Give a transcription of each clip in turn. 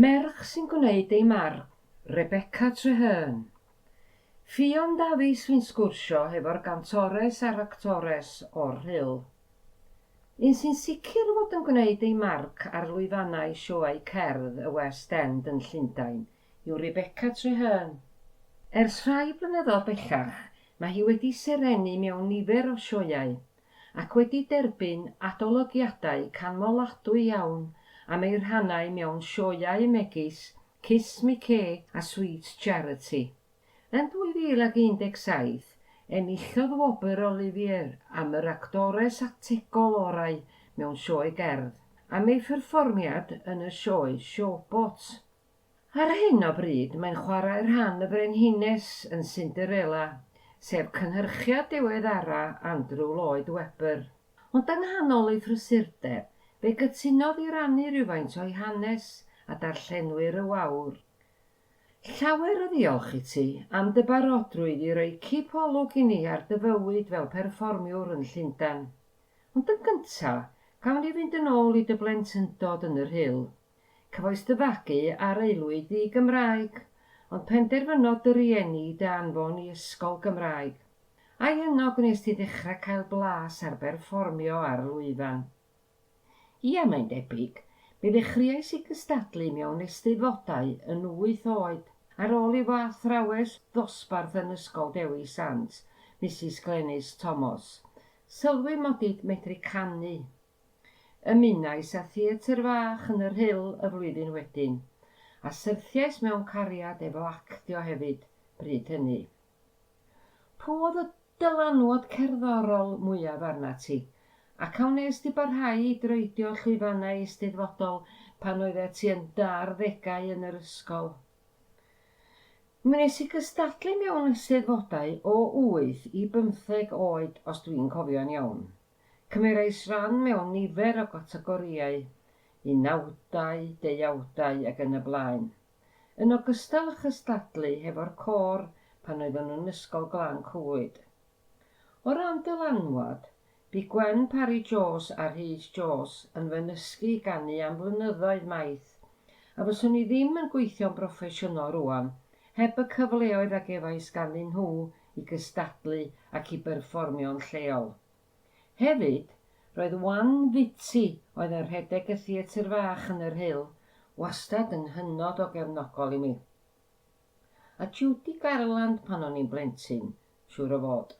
Merch sy'n gwneud ei marc, Rebecca Trehearn. Ffion Dafis Fi'n sgwrsio hefo'r gantores a'r actores o'r Rhyl. Un sy'n sicr fod yn gwneud ei marc ar lwyfannau sioeau cerdd y West End yn Llundain yw Rebecca Trehearn. Ers rhai blynyddoedd bellach, mae hi wedi serennu mewn nifer o sioeau, ac wedi derbyn adolygiadau canmoladwy iawn am eu rhannau mewn sioeau megis Kiss Me Kay a Sweet Charity. Yn 2017, enillodd wobr Olivier am yr actores ategol orau mewn sioe gerdd, am ei pherfformiad yn y sioe Showboat. Ar hyn o bryd mae'n chwarae rhan y Frenhines yn Cinderella, sef cynhyrchiad diweddara Andrew Lloyd Webber. Ond yng nghanol ei phrysurdeb, fe gytunodd i rannu rywfaint o'i hanes a darllenwyr y wawr. Llawer o ddiolch i ti am dy barodrwydd i roi cip olwg i ni ar dy fywyd fel perfformiwr yn Llundain. Ond yn gynta', gawn ni fynd yn ôl i dy blentyndod yn y Rhyl. Cyfoes dy fagu a'r aelwyd ddi-Gymraeg, ond penderfynodd dy rieni dy anfon i ysgol Gymraeg. Ai yno gwnes ti ddechrau cael blas ar berfformio ar y lwyfan? Ia, mae'n debyg. Mi ddechreuais i gystadlu mewn Eisteddfodau yn wyth oed. Ar ôl i fy athrawes ddosbarth yn Ysgol Dewi Sant, Misus Glenys Tomos, sylwi mod i'n medru canu, Ymunais â theatr fach yn yr Rhyl y flwyddyn wedyn, a syrthiais mewn cariad efo actio hefyd bryd hynny. Pw oedd y dylanwad cerddorol mwyaf arnat ti, ac a wnes di barhau i droedio llwyfannau eisteddfodol pan oeddet ti yn dy arddegau yn yr ysgol? Mi wnes i gystadlu mewn eisteddfodau o wyth i bymtheg oed os dwi'n cofio'n iawn. Cymerais ran mewn nifer o gategorïau, unawdau, deuawdau ac yn y blaen. Yn ogystal â chystadlu hefo'r côr pan oeddwn yn Ysgol Glan Clwyd. O ran dylanwad, bu Gwen Parry Jones a Rhys Jones yn fy nysgu i ganu am flynyddoedd maith, a fyswn i ddim yn gweithio'n broffesiynol rŵan heb y cyfleoedd a gefais ganddyn nhw i gystadlu ac i berfformio'n lleol. Hefyd, roedd Wan Fitty, oedd yn rhedeg y Theatr Fach yn y Rhyl, wastad yn hynod o gefnogol i mi. A Judy Garland pan o'n i'n blentyn, siŵr o fod.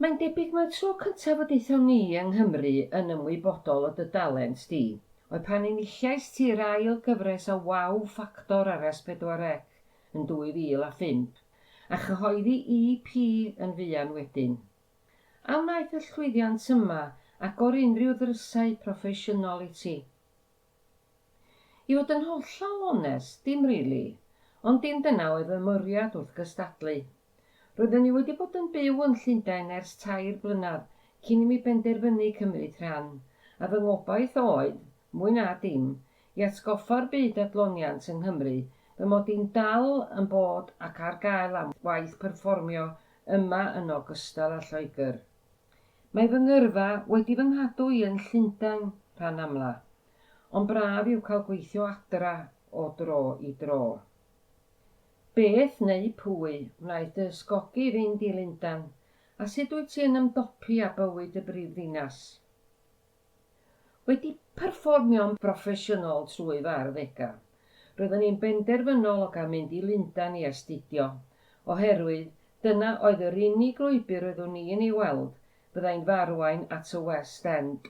Mae'n debyg mai'r tro cyntaf y daethon ni yng Nghymru yn ymwybodol o dy dalent di, oedd pan enillais ti'r ail gyfres o Wow Factor ar S4C yn 2005. a chyhoeddi EP yn fuan wedyn. A wnaeth y llwyddiant yma agor unrhyw ddrysau proffesiynol i ti? I fod yn hollol onest, dim rili, ond dim dyna oedd fy mwriad wrth gystadlu. Roeddwn i wedi bod yn byw yn Llundain ers tair blynedd cyn i mi benderfynu cymryd rhan, a fy ngobaith oedd, mwy na dim, I atgoffa'r byd adloniant yng Nghymru fy mod i'n dal yn bod ac ar gael am waith perfformio yma yn ogystal â Lloegr. Mae fy ngyrfa wedi fy nghadw i yn Llundain rhan amla, ond braf yw cael gweithio adra o dro i dro. Beth, neu pwy, wnaeth dy ysgogi i fynd i Lundan, a sut wyt ti yn ymdopi â bywyd y brifddinas? Wedi perfformio'n broffesiynol trwy fy arddegau, roeddwn i'n benderfynol o gael mynd i Lundain i astudio, oherwydd dyna oedd yr unig lwybr roeddwn i'n ei weld fyddai'n fy arwain at y West End.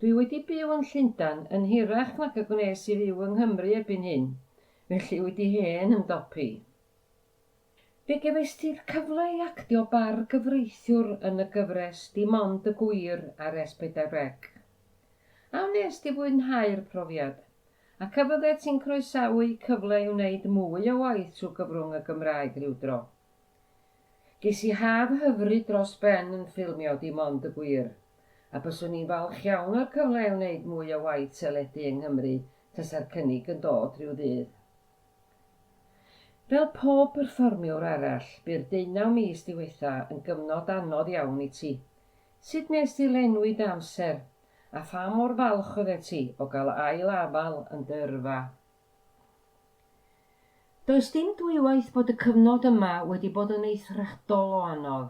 Dwi wedi byw yn Llundain yn hirach nag y gwnes i fyw yng Nghymru erbyn hyn, felly wedi hen ymdopi. Fe gefais ti'r cyfle i actio bar gyfreithiwr yn y gyfres Dim Ond y Gwir ar S4C. A wnest ti fwynhau'r profiad? Ac a fyddet ti'n croesawu cyfle i wneud mwy o waith trwy gyfrwng y Gymraeg rywdro? Ges i haf hyfryd dros ben yn ffilmio Dim Ond y Gwir, a byswn i'n falch iawn o'r cyfle i wneud mwy o waith teledu yng Nghymru tasa'r cynnig yn dod rhyw ddydd. Fel pob perfformiwr arall, bu'r deunaw mis diwetha' yn gyfnod anodd iawn i ti. Sut wnest ti lenwi dy amser, a pha mor falch oeddet ti o gael ail afal yn dy yrfa? Does dim dwywaith bod y cyfnod yma wedi bod yn eithriadol o anodd.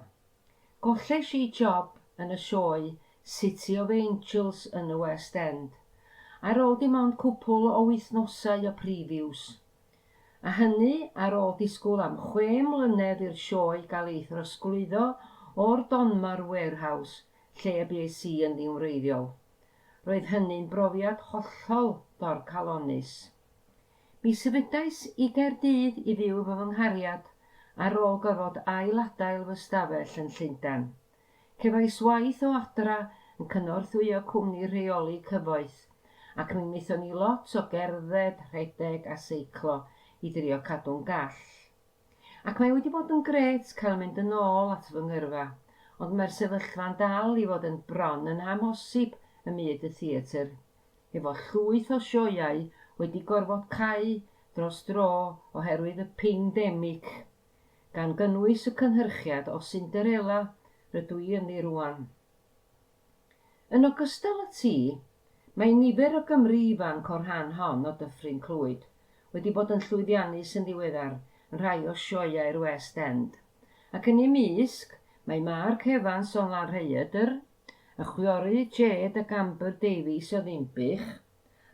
Golles i job yn y sioe City of Angels yn y West End, ar ôl dim ond cwpwl o wythnosau o previews. A hynny ar ôl disgwyl am chwe mlynedd i'r sioe gael ei throsglwyddo o'r Donmar Warehouse lle y bues i yn ddiwreiddiol. Roedd hynny'n brofiad hollol dorcalonnus. Mi symudais i Gaerdydd i fyw efo fy nghariad ar ôl gorfod ail-adael fy stafell yn Llundain. Cefais waith o adra yn cynorthwyo cwmni rheoli cyfoeth, ac mi wnaethon ni lot o gerdded, rhedeg a seiclo i drio cadw'n gall. Ac mae wedi bod yn grêt cael mynd yn ôl at fy ngyrfa, ond mae'r sefyllfa'n dal i fod yn bron yn amhosib ym myd y theatr. efo llwyth o sioeau wedi gorfod cau dros dro oherwydd y ping demic, gan gynnwys y cynhyrchiad o Cinderella rydw i ynddi rŵan. Yn ogystal â ti, mae nifer o Gymry ifanc o'r rhan hon o Dyffryn Clwyd wedi bod yn llwyddiannus yn ddiweddar yn rhai o sioeau'r West End, ac yn eu mysg mae Mark Evans o Lanrhaeadr, Y chwiorydd Jade ac Amber Davies o Ddinbych,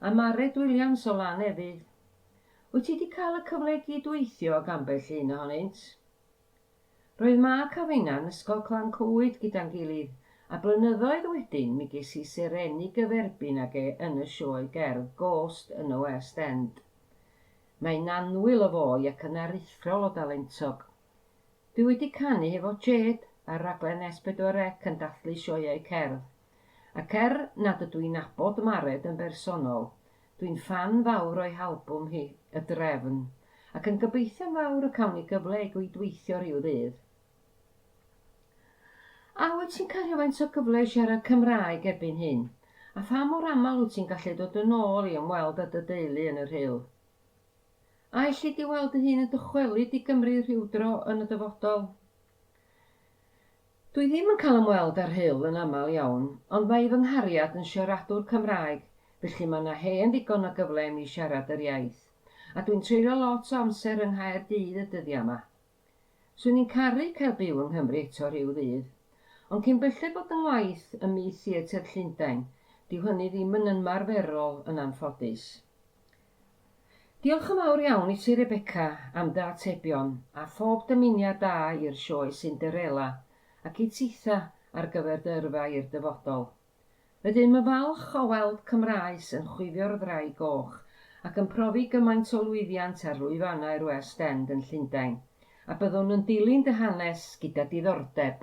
a Mared Williams o Lanefydd. Wyt ti 'di cael y cyfle i gyd-weithio ag ambell un ohonynt? Roedd Mark a finna yn Ysgol Clan Clwyd gyda'n gilydd, a blynyddoedd wedyn mi ges i serennu gyferbyn ag e yn y sioe gerdd Ghost yn y West End. Mae'n annwyl o foi ac yn aruthrol o dalentog. Dwi wedi canu hefo Jade ar raglen S4C yn dathlu sioeau cerdd. Ac er nad ydw i'n nabod Mared yn bersonol, dwi'n ffan fawr o'i halbwm hi, Y Drefn, ac yn gobeithio'n fawr y cawn ni gyfle i gydweithio rhyw ddydd. A wyt ti'n cael rhywfaint o gyfle i siarad Cymraeg erbyn hyn? A pha mor aml wyt ti'n gallu dod yn ôl i ymweld â dy deulu yn y Rhyl? A elli di weld dy hun yn dychwelyd i Gymru rhywdro yn y dyfodol? Dwi ddim yn cael ymweld â'r Hyll yn aml iawn, ond mae i fy nghariad yn siaradwr Cymraeg, felly mae yna hen ddigon o gyfle i mi siarad yr iaith. A dwi'n treulio lot o amser yng Nghaerdydd y dyddiau 'ma. Swn i'n caru cael byw yng Nghymru eto rhyw ddydd. Ond cyn belled bod yng ngwaith ym myd theatr Llundain, dyw hynny ddim yn ynmarferol yn anffodus. Diolch yn fawr iawn i ti Rebecca am dy atebion a phob dymuniad da i'r sioe Cinderella ac i titha ar gyfer dy yrfa i'r dyfodol. Rydym yn falch o weld Cymraes yn chwifio'r ddraig goch ac yn profi gymaint o lwyddiant ar lwyfannau'r West End yn Llundain, a byddwn yn dilyn dy hanes gyda diddordeb.